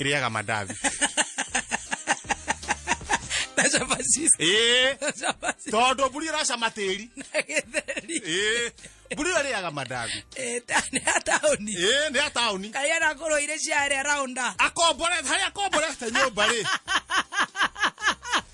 ĩrĩaga mandathi na cabaci ĩĩ na cabaci tondũ mburi ĩracama tĩri na gĩtheri ĩĩ mburi ĩyo ĩrĩaga mandathi Eh, ta- nĩ ya taũni ĩĩ nĩ ya taũni kaĩ anakorwo irĩ ciarĩa raunda akombore harĩa akomborete nyũmba rĩ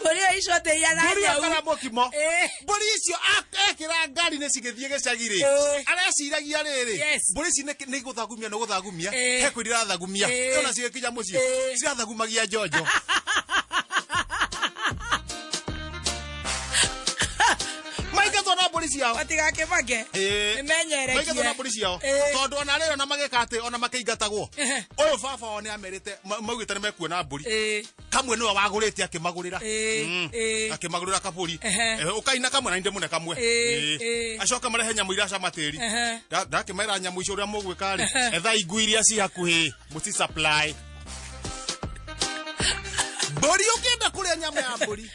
mbũri ĩyo icoteia na mbũri nyau akora mũkimo Eh. mbũri icio a- ekĩra ngari nĩ cigĩthiĩ gĩcagi rĩ Eh. areciragia rĩrĩ Yes. mbũri ici nĩ- nĩ gũthagumia nĩ gũthagumia Eh. he kwĩndi irathagumia Eh. ona cigĩkinya mũciĩ Eh. cirathagumagia njonjo maigethwo na mbũri ciao matigakĩbange Ĩĩ. nĩmenyerekie maigethwo na mbũri ciao Ĩĩ. tondũ ona rĩrĩ ona magĩka atĩ ona makĩingatagwo Ehe. ũyũ baba wao nĩ amerite ma- maugĩte nĩ mekuona mbũri Ĩĩ. kamwe nĩwe wagũrĩte akĩmagũrĩra Ĩĩ, Mm. ĩĩ. akĩmagũrĩra kabũri Ehe. Eh, ũkaina kamwe na nĩ ndĩmũne kamwe Ĩĩ, Ĩĩ. ĩĩ. acoka marehe nyamũ iria cama tĩri Ehe. Nda- ndakĩmera nyamũ icio ũrĩa mũgwĩka rĩ ethai ngui iria ci hakuhĩ mũci supply mbũri ũkĩenda kũrĩa nyama ya mbũri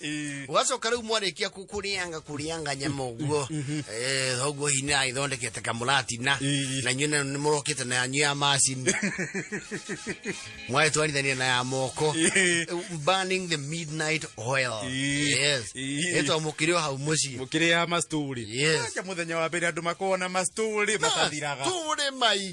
Eh, ugacoka rä u mwarĩkia kå- kũrĩanga kũrĩanga nyama å guo thoguo hinya aithondekete kamũratina Eh. na inyuĩ nĩ mũrokĩte na yanyu ya macini mwagĩtwarithania na ya moko Eh. burning the midnight oil Eh. yes Eh. ĩtwa mũkĩrĩ o hau mũciĩ må kä rä ya mastori Yes. akä må thenya wa mbere andå makorwo na mastori matathiraga tũrĩ mai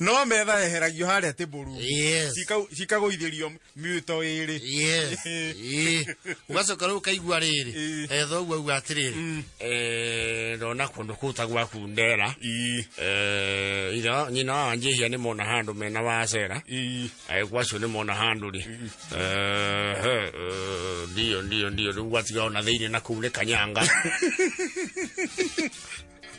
no metha eheragio harĩa tĩmbũru Yes. cikagũithĩrio mĩto ĩrĩ Yes. Ĩĩ. ugacoka rä u kaigua rä rä Ĩĩ. thoguo auga atä rä Mm. rä ndona kå ndå kå ta gwaku ndera Ii, Eh, itha nyina wa njihia nĩ mona handũ mena wacera ii. agĩkwa acio nĩ mona handũ rĩ Eh, he, eh, ndio ndio ndio rĩu gwatiga ona thĩinĩ na kuu nĩ kanyanga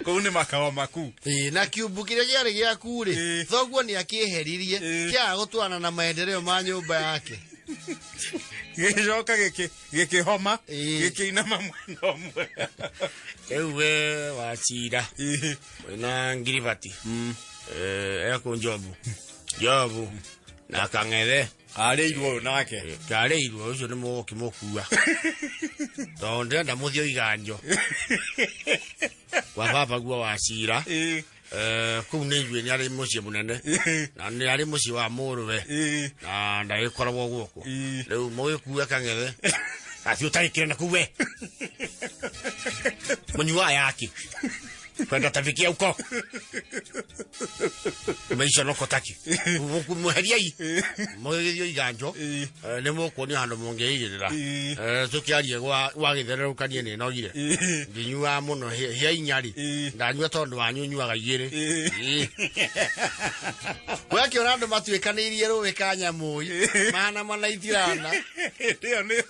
kũu nĩ makao maku Ĩĩ, na kiumbu kĩrĩa gĩarĩ gĩaku rĩ Ĩĩ. thoguo nĩ akĩeheririe Ĩĩ. kĩaga gũtwarana na maendereo ma nyũmba yake gĩcoka gĩkĩ- gĩkĩhoma Ĩĩ. gĩkĩinama mwena ũmwe rĩu we wacira Ĩĩ. wĩna ngiribati ekũ njobu njobu na kang'ethe arĩirwo ũyũ nake ndarĩirwo ũcio nĩ mũgũkĩmũkua tondũ ndĩrenda mũthiĩ oiganjo kwa baba guo wa cira Ĩ, Eh, kũu nĩ ithuĩ nĩ arĩ mũciĩ mũnene ĩ, na nĩ arĩ mũciĩ wa mũrũwe ĩ, na ndagĩkoragwo gũkũ ĩ. rĩu mũgĩkua kang'ethe athiĩ ũtagĩkĩre na kuu we mũnyuaga yaki kwenda atafikia huko maisha no kotaki muheriai mugerio iganjo ni mukuonia handu mungiigirira tukiarie gwa gwa githererukanie ni nogire nginyua muno hia inyari ndanyua tondu wanyu nyuaga igiri we akiona andu matuikanirie ruwi ka nyamui mana mana itirana ndio ndio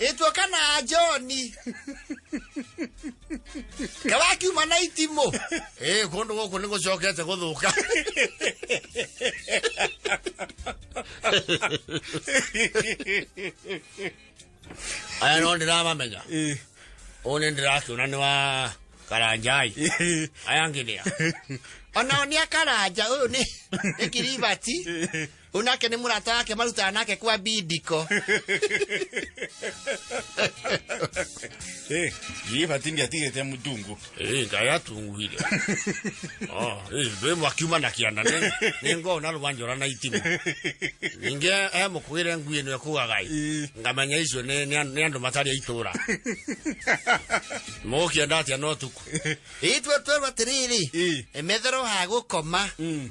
ĩtuo kana njoni kawakiuma na itimũ ĩ kũndũ gũkũ nĩ gũcokete gũthũka aya no ndĩramamenya Eh, ũũ nĩ ndĩrakĩona nĩ wa karanjai eh, aya ngĩnĩa ona nĩ akaranja ũyũ nĩ nĩ kiribati eh. Rĩu nake nĩ mũrata wake marutaga nake kwa bindiko. Eh, yeye batindi atigete mutungu. Eh, ngai atunguire. Oh, eh, ndwe mwakiuma na kiana ne. Ni ngo na rwanjora na itimu. Ninge eh mukwire ngui no kugaga. Eh. Ngamanya icio ne ne andu matari aitura. Mukienda atia no tuku. Itwe twerwa tiriri. Eh. Emethero ha gukoma. Mm.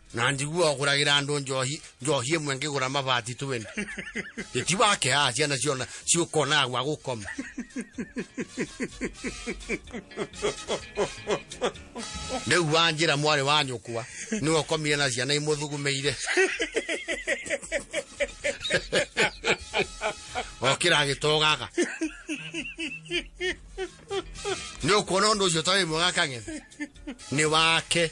na ndigua oguragira andu njohi njohi imwe ngigura mabati twin iti wake a ciana ciona ciukona gwa gukoma riu wanjira mwari wa nyukwa niwe ukomire na ciana imuthugumiire okira agitogaga nä å kuona å ndå å cio tarä mwega kang'ethe nä wake